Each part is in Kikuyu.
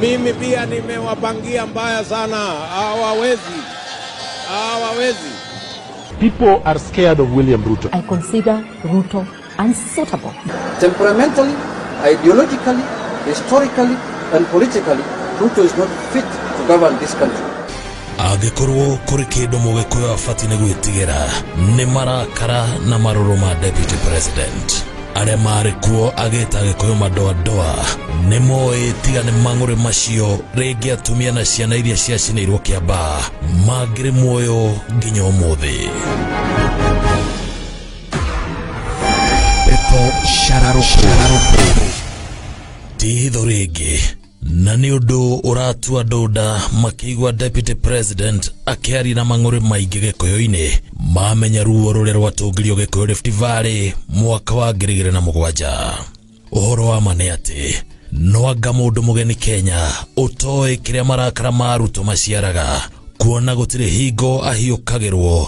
Mimi pia nimewapangia mbaya sana, hawawezi, hawawezi. People are scared of William Ruto. I consider Ruto unsuitable. Temperamentally, ideologically, historically, and politically, Ruto is not fit to govern this country. angĩkorwo kũrĩ kĩndũ mũgĩkũyũ abatiĩ nĩ gwĩtigĩra nĩ marakara na marũrũ ma deputy president arĩa maarĩ kuo agĩta agĩkũyũ madoadoa nĩ moĩ tiga nĩ mang'ũrĩ macio rĩngĩ atumia na ciana iria ciacinĩirwo kĩamba mangĩrĩ muoyo nginya ũmũthĩ pepo shararũkũ ti hitho rĩngĩ na nĩ ũndũ ũratua andũ nda makĩigua deputy president akĩaria na mang'ũrĩ maingĩ gĩkũyũ-inĩ mamenya ruo rũrĩa rwatũngirio gĩkũyũ Rift Valley mwaka wa ngiri igĩrĩ na mũgwanja ũhoro wa ma nĩ atĩ no anga mũndũ mũgeni Kenya ũtoĩ kĩrĩa marakara ma arutwo maciaraga kuona gũtirĩ hingo ahiũkagĩrwo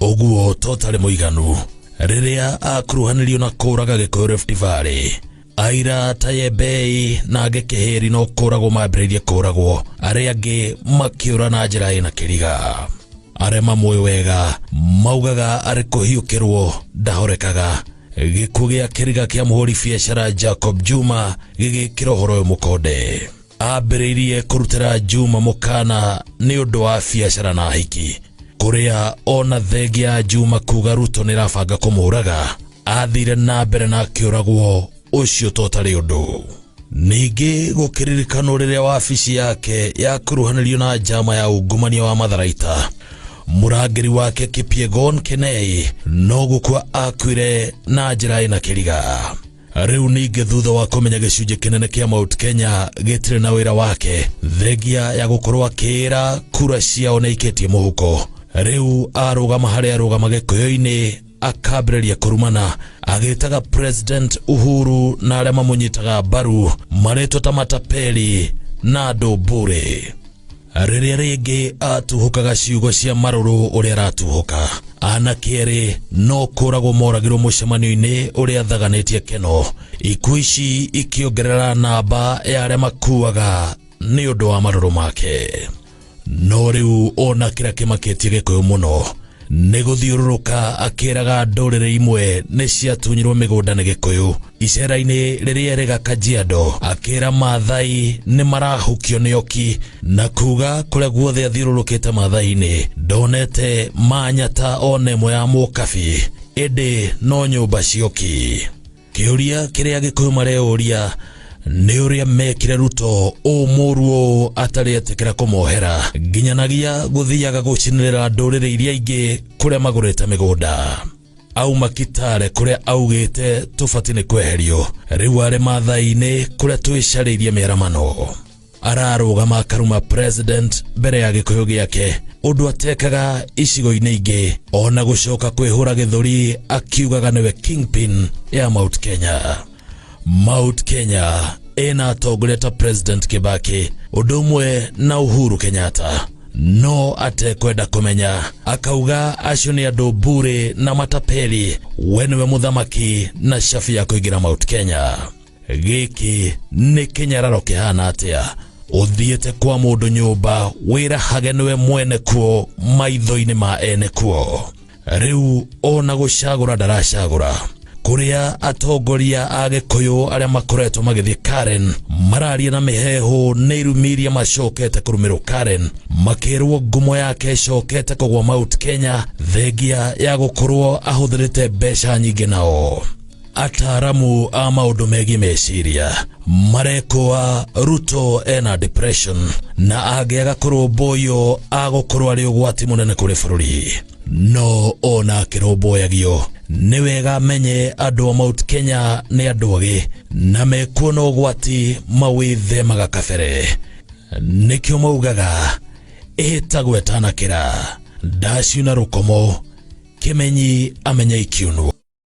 ũguo to ũtarĩ mũiganu rĩrĩa akuruhanirio na kũraga gĩkũyũ Rift Valley aira ta yembei na angĩ kĩhĩri no kũragwo mambĩrĩirie kũragwo arĩa angĩ makĩũra na njĩra ĩna kĩriga arĩa mamũĩ wega maugaga arĩ kũhiũkĩrwo ndahorekaga gĩkuũ gĩa kĩriga kĩa mũhũri biacara Jacob Juma gĩgĩkĩra ũhoro ũyũ mũkonde ambĩrĩirie kũrutĩra Juma mũkana nĩ ũndũ wa biacara na hiki kũrĩa ona thengia Juma kuga Ruto nĩ rabanga kũmũraga athire na mbere na akĩũragwo ũcio totarĩ ũndũ ningĩ gũkĩririkanwo rĩrĩa wabici yake yakuruhanirio na njama ya ungumania wa matharaita mũrangĩri wake Kipyegon Kenei no gũkua akuire na njĩra ĩna kĩriga rĩu ningĩ thutha wa kũmenya gĩcunjĩ kĩnene kĩa Mount Kenya gĩtirĩ na wĩra wake thengia ya gũkorwo akĩĩra kura ciao naikĩtie mũhuko rĩu arũgama harĩa arũgama gĩkũyũ-inĩ akambĩrĩria kũrumana agĩtaga president uhuru na arĩa mamũnyitaga mbaru marĩtwo ta matapeli na andũ mbũrĩ rĩrĩa rĩngĩ atuhũkaga ciugo cia marũrũ ũrĩa aratuhũka anake erĩ no kũragwo moragirwo mũcemanio-inĩ ũrĩa athaganĩtie keno ikuũ ici ikĩongerera namba ya arĩa makuaga nĩ ũndũ wa marũrũ make no rĩu ona kĩrĩa kĩmakĩtie gĩkũyũ mũno nĩ gũthiũrũrũka akĩraga ndũrĩrĩ imwe nĩ ciatunyirwo mĩgũnda nĩ gĩkũyũ icera-inĩ rĩrĩa erĩ ga kajiado akĩra maathai nĩ marahukio nĩ oki na kuga kũrĩa guothe athiũrũrũkĩte maathai-inĩ ndonete manyata ona ĩmwe ya mũkabi ĩndĩ no nyũmba cioki Kĩũria kĩrĩa Gĩkũyũ mareyũria nĩ ũrĩa mekire Ruto ũũ mũũru ũũ atarĩ etĩkĩra kũmohera nginyanagia gũthiaga gũcinĩrĩra ndũrĩrĩ iria ingĩ kũrĩa magũrĩte mĩgũnda auma Kitale kũrĩa augĩte tũbati nĩ kweherio rĩu arĩ Maathai-inĩ kũrĩa twĩcarĩirie mĩaramano ararũgama akaruma president mbere ya gĩkũyũ gĩake ũndũ atekaga icigo-inĩ ingĩ ona gũcoka kwĩhũra gĩthũri akiugaga nĩwe kingpin ya mount kenya mount kenya ĩna atongoria ta president kibaki ũndũ ũmwe na uhuru kenyatta no atekwenda kumenya akauga acio nĩ andũ mbure na matapeli we nĩwe mũthamaki na shabi ya kũingĩra mount kenya gĩkĩ nĩ kĩnyararo kĩhana atĩa ũthiĩte kwa mũndũ nyũmba wĩrahage nĩwe mwene kuo maitho-inĩ ma ene kuo rĩu ona gũcagũra ndaracagũra kũrĩa atongoria a gĩkũyũ arĩa makoretwo magĩthiĩ karen mararia na mĩheehũ nĩ irumi iria macokete kũrũmĩrwo karen makĩrwo ngumo yake ĩcokete kũgwa mount kenya thengia ya gũkorwo ahũthĩrĩte mbeca nyingĩ nao ataaramu a maũndũ megiĩ meciria marekũa ruto ena depression na angĩaga kũrũmbũywo agũkorwo arĩ ũgwati mũnene kũrĩ bũrũri no ona akĩrũmbũyagio nĩ wega amenye andũ a mount kenya nĩ andũ agĩ na mekuona ũgwati mawĩthemaga kabere nĩkĩo maugaga ĩhĩtagwo ĩtanakĩra ndaciuna rũkomo kĩmenyi amenya ikiunwo